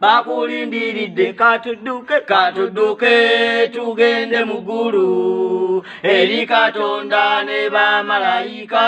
bakulindiridde katudduke katudduke tugende mu ggulu eri katonda ne bamalayika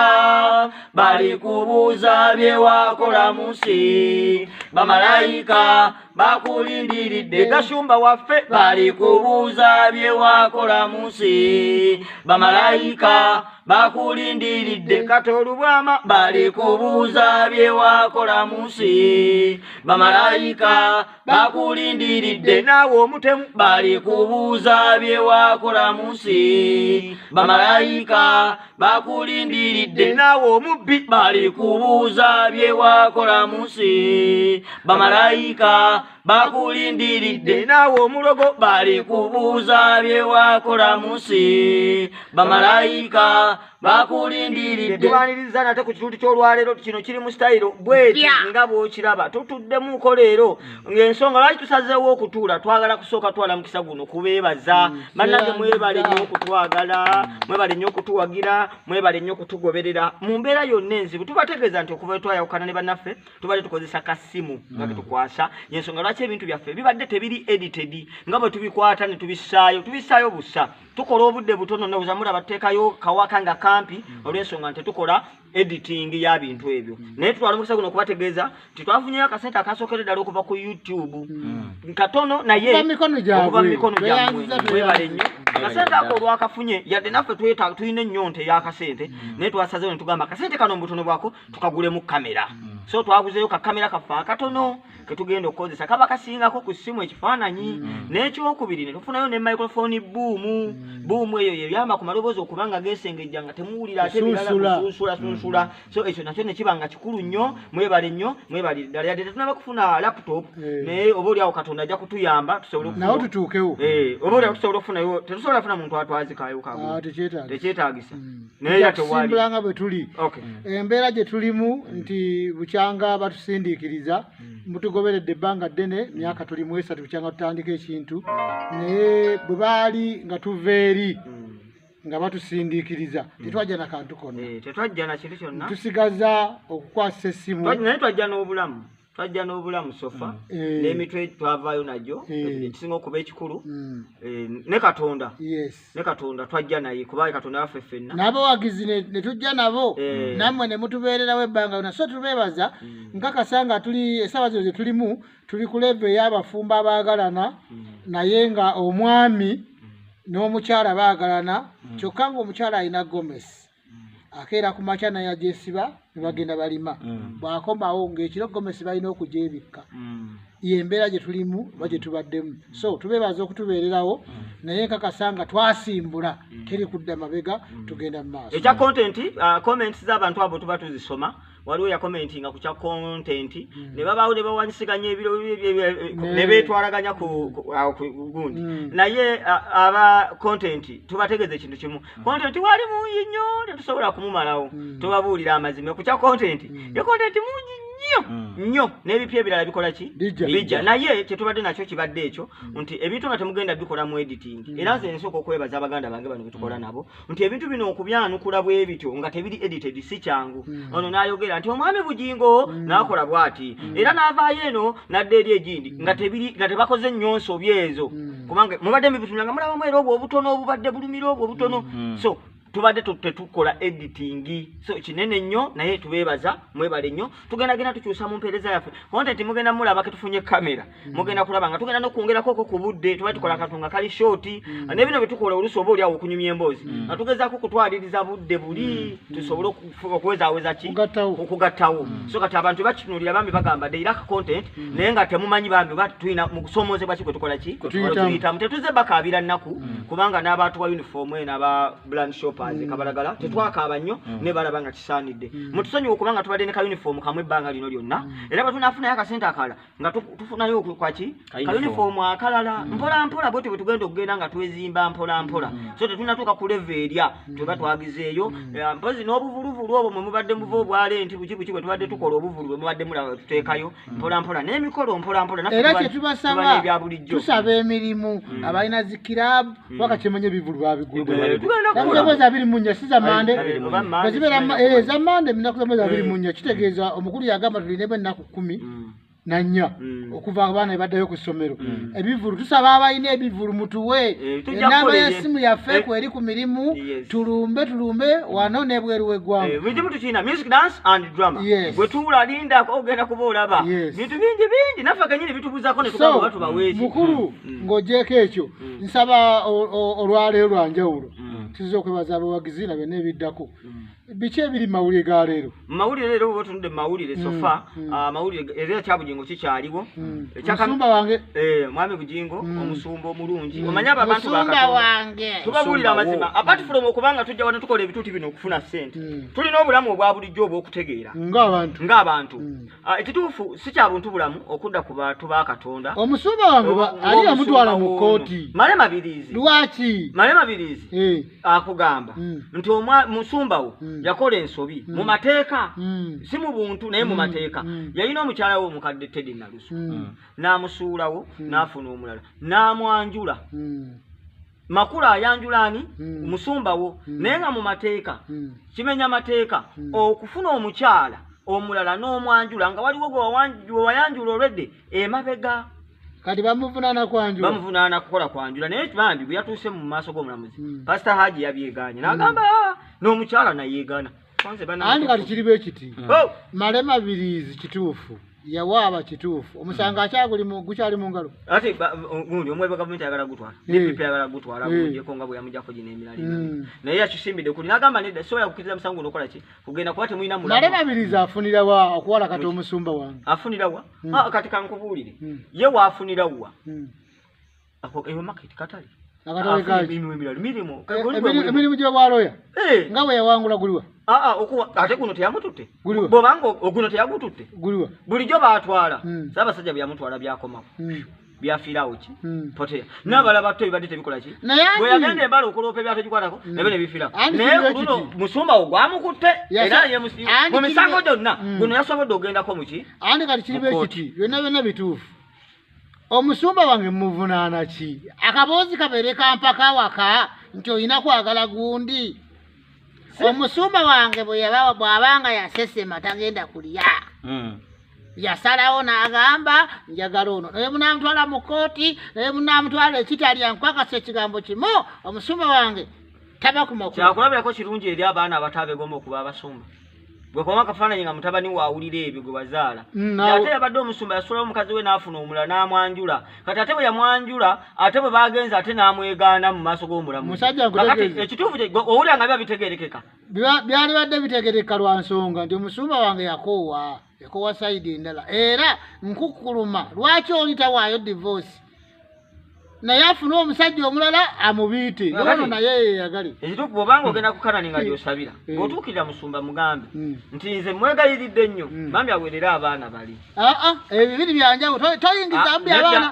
bali kubuuza bye wakola mu nsi bamalayika bakulindiridde gashumba waffe bali kubuuza bye wakola mu nsi bamalayika bakulindiridde katolubwama bali kubuuza bye wakola mu nsi bamalayika bakulindiridde naawe omutemu bali kubuuza bye wakola mu nsi bamalayika bakulindiridde naawe omubbi bali kubuuza bye wakola mu nsi bamalayika bakulindiridde naawe omulogo bali kubuuza bye wakola mu nsi bamalayika bakulindiridde tubaniriza nate ku kitundu ky'olwaleero kino kiri mu sitayiro bweti nga bwokiraba tutuddemu nko leero mm. ng'ensonga lwaki tusazeewo okutuula twagala kusooka twala mukisa guno kubeebaza mm. bannange mwebale nnyo okutwagala mm. mwebale nnyo okutuwagira mwebale nnyo okutugoberera mu mbeera yonna enzibu tubategeeza nti okuva twayawukana ne bannaffe tubadde tukozesa kasimu nga ketukwasa yensonga lwaki ebintu byaffe bibadde tebiri edited nga bwe tubikwata ne tubissaayo tubissaayo bussa tukola obudde butono neweza mulaba tuteekayo kawaka nga kampi mm. olwensonga nti tukola editing ya bintu ebyo mm. naye tutwala omukisa guno okubategeeza nti twafunyeyo akasente akasookere ddala okuva ku youtube mm. katono naye okuva mu mikono gyamwebale nnyo akasente ako olwakafunye yadde naffe tulina ennyonta eyakasente naye twasazewo ne tugamba akasente kano mu butono bwako tukagulemu kamera so twaguzeyo kakamera kaffe akatono ketugenda okukozesa kaba kasingako ku ssimu ekifaananyi mm. n'ekyokubiri ne tufunayo ne microphone buumu mm. buumu eyo yeyamba ku maloboozi okuba nga gesengejja nga temuwulira ate biralakusunsula sunsula mm. so ekyo nakyo ne kiba nga kikulu nnyo mwebale nnyo mwebale ddala yadde tetunaba kufuna laptop eh. naye oba oliawo katonda ajja kutuyamba tusoblenawo tutuukewo eh, oba oliawo tusobola okufunayo tetusobola funa muntu atwazikayo kabu ah, tekyetagisa nayetusimbulanga bwe tuli eh, embeera gye tulimu nti bukyanga batusindiikiriza mutugoberedde ebbanga ddene myaka tuli mu esatu bukyanga tutandika ekintu naye bwe baali nga tuva eri nga batusindiikiriza hmm. tetwajja na kantu konna eh, tusigaza okukwasa essimu naye twajja n'obulamu twajja n'obulamu sofa mm. eh. n'emitwe twavaayo nagyo eh. ekisinga okuba ekikulu mm. eh, ne katonda ne katonda twajja naye kuba katonda waffe ffenna n'abawagizi ne tujja nabo nammwe ne mutubeererawo ebbanga yona so tubeebaza mm. nkakasa nga tuli esaawa zino ze tulimu tuli ku leevu ey'abafumbo abaagalana naye nga omwami n'omukyala baagalana kyokka ng'omukyala alina gomesi akeera ku makya naye agyesiba ne bagenda balima mm. bw'akomawo ng'ekiro gomesi balina okugyebikka mm. yembeera gye tulimu oba gye tubaddemu mm. so tubeebaza okutubeererawo naye nkakasa nga twasimbula teri kudda mabega tugenda mu maaso ekya kontenti uh, comments z'abantu abo tuba tuzisoma waliwo yakomentinga ku kya kontenti hmm. ne babaawo ne bawanyisiganya ebiro hmm. ne beetwalaganya kugundi hmm. naye aba kontenti tubategeeza ekintu kimu kontenti wali mungi nnyo tetusobola kumumalawo tubabuulira amazima ku kya kontenti ye kontenti mungi nnyo nnyo n'ebipya ebirala bikola ki bijja naye kyetubadde nakyo kibadde ekyo nti ebintu nga temugenda bikola mu editing era nze nsooka okwebaza abaganda bange bano betukola nabo nti ebintu bino okubyanukula bwe bityo nga tebiri edited si kyangu hmm. ono n'ayogera nti omwami bugingo hmm. n'akola bw'ati hmm. era n'avaayo eno n'adda eri egindi nga tebiri nga tebakoze nnyo nsobi ezo kubanga mubadde mubitunda nga mulabamu era obwo obutono obubadde bulumira obwo obutono so tubadde tetukola editing so kinene nnyo naye tubeebaza mwebale nnyo tugenda genda tukyusa mu mpeereza yaffe konte nti mugenda mulaba ketufunye kamera mm. mugenda kulaba nga tugenda nokwongerakoko ku budde tuba tukola akantu nga kali shoti mm. ne bino byetukola oluusi oba oliawo okunyumya emboozi mm. nga tugezaako okutwaliriza budde buli tusobole okuwezaweza ki okugattawo so kati abantu bakitunulira bambi bagamba the iraq content naye nga temumanyi bambi oba tulina mu kusoomoozebwa ki kwe tukola ki tuyitamu tetuze bakaabira nnaku kubanga n'abantu ba uniform eno aba bland shoppers kabalagala tetwakaaba nnyo ne balaba nga kisaanidde mutusonyiwa okubanga tubadde ne ka uniform kamu ebbanga lino lyonna era batunafunayo akasente akalala nga tufunayo kwaki kayunifoomu akalala mm. mpola mpola bwetyo bwetugenda okugenda nga twezimba mpola mpola mm. so tetunatuuka kuleva erya mm. tweba twagizeeyo eh, mpozi n'obuvuluvulu obwo mwe mubadde muva obwale nti buki buki bwe tubadde tukola obuvulu bwe mubadde mulaba tuteekayo mpola mpola n'emikolo mpola mpola era kyetubasaba tusaba emirimu abalina zikirabu waka kyemanya ebivulu babiguldakuzamozi eh, abiri munya si zamande ezammande eh, eminaku zamozi abiri munya kitegeeza omukulu yagamba tulina ebenaku kumi mm. nanya mm. okuva abaana ebaddayo ku ssomero mm. ebivulu tusaba abalina ebivulu mutuwe eh, enamba yesimu yaffe eh. kweri ku mirimu tulumbe tulumbe wano nebweru wegwanga eh, bizimu tukina music dance and drama bwetuula lindako ogenda kuba olaba bintu bingi bingi naffe kenyini bitubuzako netugabatubaweeki mukulu mm. ng'ogyeko ekyo nsaba olwaleero lwanjawulo tuzza okwebaza abawagizi na byonna ebiddako biki ebiri mawulire ga leero mawulire leero bwe tunudde mawulire mm, sofa mm. Ah, mawulire era ekya bugingo kikyaliwo mm. omusumba wange eh, mwami bugingo omusumba omulungi omanyi abo abantu tubabuulira amazima apart from okubanga tujja wano tukola ebituuti bino okufuna ssente tulina obulamu obwa bulijjo obw'okutegeera ng'abantu ah, ekituufu si kya buntu bulamu okudda ku bantu ba katonda omusumba wange ali yamutwala mu kkooti male mabiriizi lwaki male mabiriizi eh. akugamba Mm. nti omwa- musumba wo Mm. yakola ensobi Mm. mu mateeka Mm. si mu buntu naye mu Mm. mateeka Mm. yalina omukyala we omukadde tedi nalusu Mm. n'amusuulawo Mm. n'afuna omulala n'amwanjula Mm. makula ayanjula ani Mm. musumba wo Mm. naye nga mu mateeka Mm. kimenya mateeka Mm. okufuna omukyala omulala n'omwanjula nga waliwo gwe wawan- gwe wayanjula olwedde emabega kati bamuvunaana kwanjula bamuvunaana kukola kwanjula naye bambi bwe yatuuse mu maaso g'omulamuzi hmm. pasita haji yabyegaanye n'agamba hmm. ah, n'omukyala nayeegaana andi kati kiri bwe kiti hmm. oh! male mabiriizi kituufu yawaaba kituufu omusango hmm. akyaguli gukyali mu ngalo ati gundi omwebe gavumenti ayagala gutwala dpp hmm. ayagala gutwala gujeko nga bwe yamujako gino emiralina naye yakyusimbidde kuli nagamba nedda sobola kukiriza musango guno okola ki kugenda kuba temulina mulale nabiriza afunira wa okuwala kati omusumba wange afunira wa hmm. ah, kati kankubuulire hmm. ye waafunira wa hmm. eyo maketi katale emirimu gyewaloya eh. nga weyawangula guliwa ah, ah, ate guno teyamututte bobanga oguno teyagututte bulijjo batwala saabasajja byeyamutwala byakomawo byafiirawo ki hmm. poteya n'abala batto ebibadde tebikola ki bweyagenda embala okuloopa ebyategikwatako hmm. nabyo nebifiirawo naye kuluno musumba wo gwamukutte era mu misango gyonna hmm. guno yasobodde ogendako muki andi kati kiriba ekiti byonna byonna bituufu omusumba wange muvunaana ki akaboozi kabeere kampaka waka nti olina kwagala gundi omusumba wange bwabanga yasesema tagenda kulya hmm. yasalawo n'agamba njagala ono naye munamutwala mu kooti naye munamutwala ekitalya nkwakasa ekigambo kimu omusumba wange tabakumakyakulabirako kirungi eri abaana abatabegoma okuba abasumba bwekoma akafaananyi nga mutabani waawulira ebyo gwe wazaala mm, ate yabadde omusumba yasulawo omukazi we n'afuna omulala n'amwanjula kati ate bwe yamwanjula ate bwe baagenza ate n'amwegaana mu maaso g'omulamuakati ekituufu owulira nga biba bitegerekeka byalibadde bitegereka lwa nsonga nti omusumba wange yakoowa ekowa sayidi endala era nkukuluma lwaki oli tawaayo divoosi naye afune omusajja omulala amubiite ono naye yeyagale ekituufu bwobanga ogenda ku kanani nga gyosabira eh. bwotuukirira musumba mugambe hmm. nti nze mwegayiridde nnyo hmm. bambi awerere abaana bali aa ah, ah, ebibiri byanjawulo toyingizamu ah, byabaana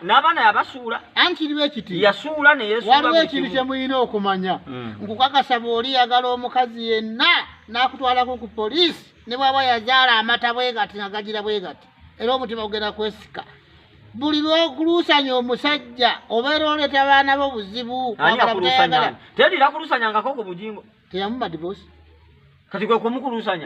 n'abaana yabasuula ankiriba ekiti yasuula neyewaliwo ekintu kye mulina okumanya hmm. nkukakasa bw'oli yagala omukazi yenna n'akutwalako ku poliisi ne bwaba yazaala amata bwe gati nga gagira bwe gati era omutima gugenda kwesika buli lwokuluusanya omusajja obeera oleeta abaana bo buzibu tedira kulusanyangako ku bujingo teyamuba divorce kati gwe kumukulusanya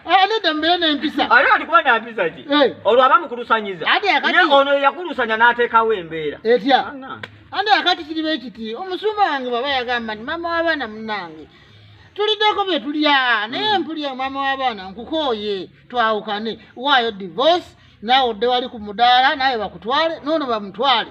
ah, nedda mbeere nempisa ate kati kuba nampisa ki olwo aba mukulusanyiza ye ono yakulusanya n'ateekawo embeera etya ande akati kiriba ekiti omusumba wange baba yagamba nti maama w'abaana munange tuliddeko bye tulya naye hmm. mpulya maama w'abaana nkukooye twawukane waayo divorce naawe odde wali ku mudaala naawe bakutwale noono bamutwale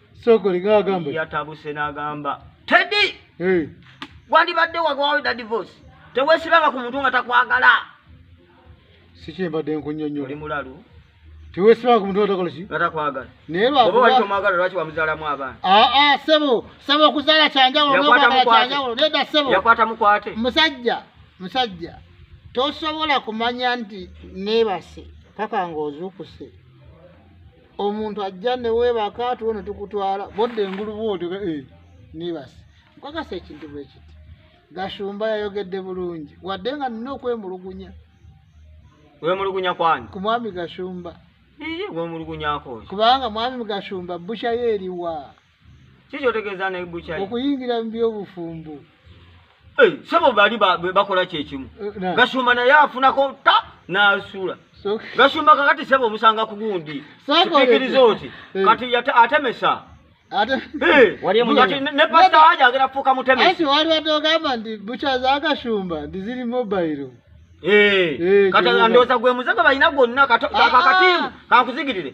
sokoli ngagamba yatabuse nagamba tedi hey. wandibadde wagwaweda divorce tewesibanga ku muntu nga takwagala sikyembadde nkunyonyo oli mulalu tewesibanga ku muntu nga takola ki nga takwagala naye lwaoba wali tomwagala lwaki wamuzalamu abaana aa ah, ah, sebo sebo okuzaala kyanjawulo nokwagala kyanjawulo neda sebo yakwata mukwate musajja musajja tosobola kumanya nti nebase paka ngaozuukuse omuntu ajja newebaka tuwo netukutwala bodda engulu bwotyo eh, nibasi nkakasa ekintu bwekiti gashumba yayogedde bulungi wadde nga nina okwemulugunya wemulugunya kwani ku mwami gashumba wemulugunyako kubanga mwami gashumba busha yeriwa kiki otegeeza ne bukyai okuyingira mu byobufumbo Eh, sebo bali ba- be- bakola kyekimu Eh, na- gasumba naye afunako ta n'asuula so- gasumba kakati sebo omusanga ku gundi Sebo- kipikiriza oti Eh. kati yate- atemesa ate Eh, Wali emunyenye. kati ne- ne pasita Neda. aja agera kufuuka mutemesi anti wali watogamba nti bucha zagashumba ndi ziri mobayiro Eh, Eh, kati gyebuba. ndowooza gwe muze gwe balina gwonna kato- Ah, ako akatiimu ah. kankuzigirire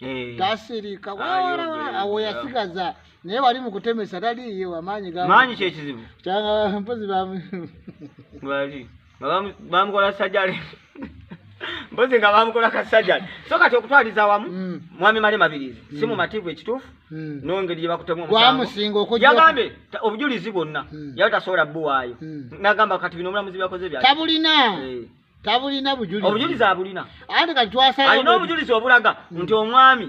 Eh. tasirika awo yasigaza naye wali mukutemesa taliiye wamaanyi maanyi kyekizibu kyanga mpozi bali bamukola sajali mpozi nga bamukola kasajali so kati okutwaliza wamu mm. mwami male mabirizi mm. si mumativu ekituufu mm. nongeri gyebakutemu omusangoyagambye obujulizi bwonna yali tasobola buwaayo nagamba kati bino omulamuzi byakoze bya tabulina eh. tabulina bujulizi obujulizi abulina andi kati twasala alina obujulizi obulaga mm. nti omwami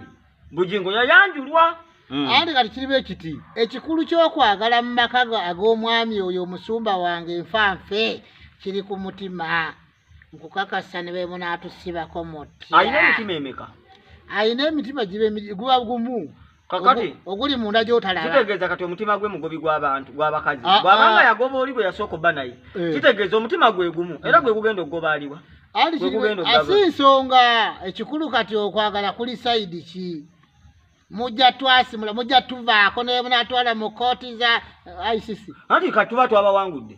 bujingo yayanjulwa mm. andi kati kiriba ekiti ekikulu kyokwagala mu maka ag'omwami oyo omusumba wange nfa nfe kiri ku mutima nkukakasa ne bemunatusibako muti alina emitima emeka alina emitima giba guba gumu kakati oguli munda gyotalaba kitegeeza kati omutima gwe mugobi gw'abantu gw'abakazi ah, bw'abanga ah. yagoba oli gwe yasooka obba naye eh. kitegeeza omutima gwe gumu era gwe gugenda okugoba aliwa asi nsonga ekikulu kati okwagala kuli sayidi ki mujja twasimula mujja tuvaako nebunatwala mu kooti za eh, icc anti kati tuba twabawangudde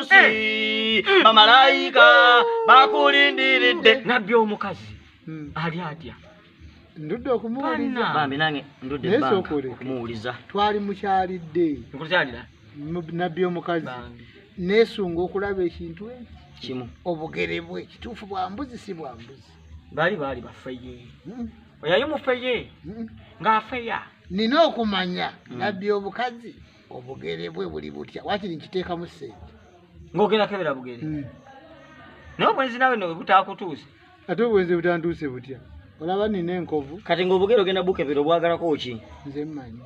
munsi bamalayika bakulindiridde nabbi omukazi ali atya ndudde okumuwuliza bambi nange ndudde okumuwuliza twali mukyalidde nkukyalira nabbi omukazi nesunga okulaba ekintu ekyo kimu obugere bwe kituufu bwa mbuzi si bwa mbuzi baali baali bafeye hmm. oyayo mufeye hmm. ng'afeya nina okumanya hmm. nabbi obukazi obugere bwe buli butya wakiri nkiteekamu sente ng'ogenda kebera bugere hmm. naye obwenzi nawe ne butaakutuuse ate obwenzi butantuuse butya olaba nina enkovu kati ng'obugere ogenda bukebera obwagalako ki nze mmanyi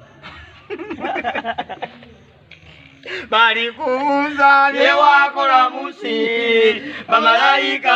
balikubuuza byewakola munsi bamalayika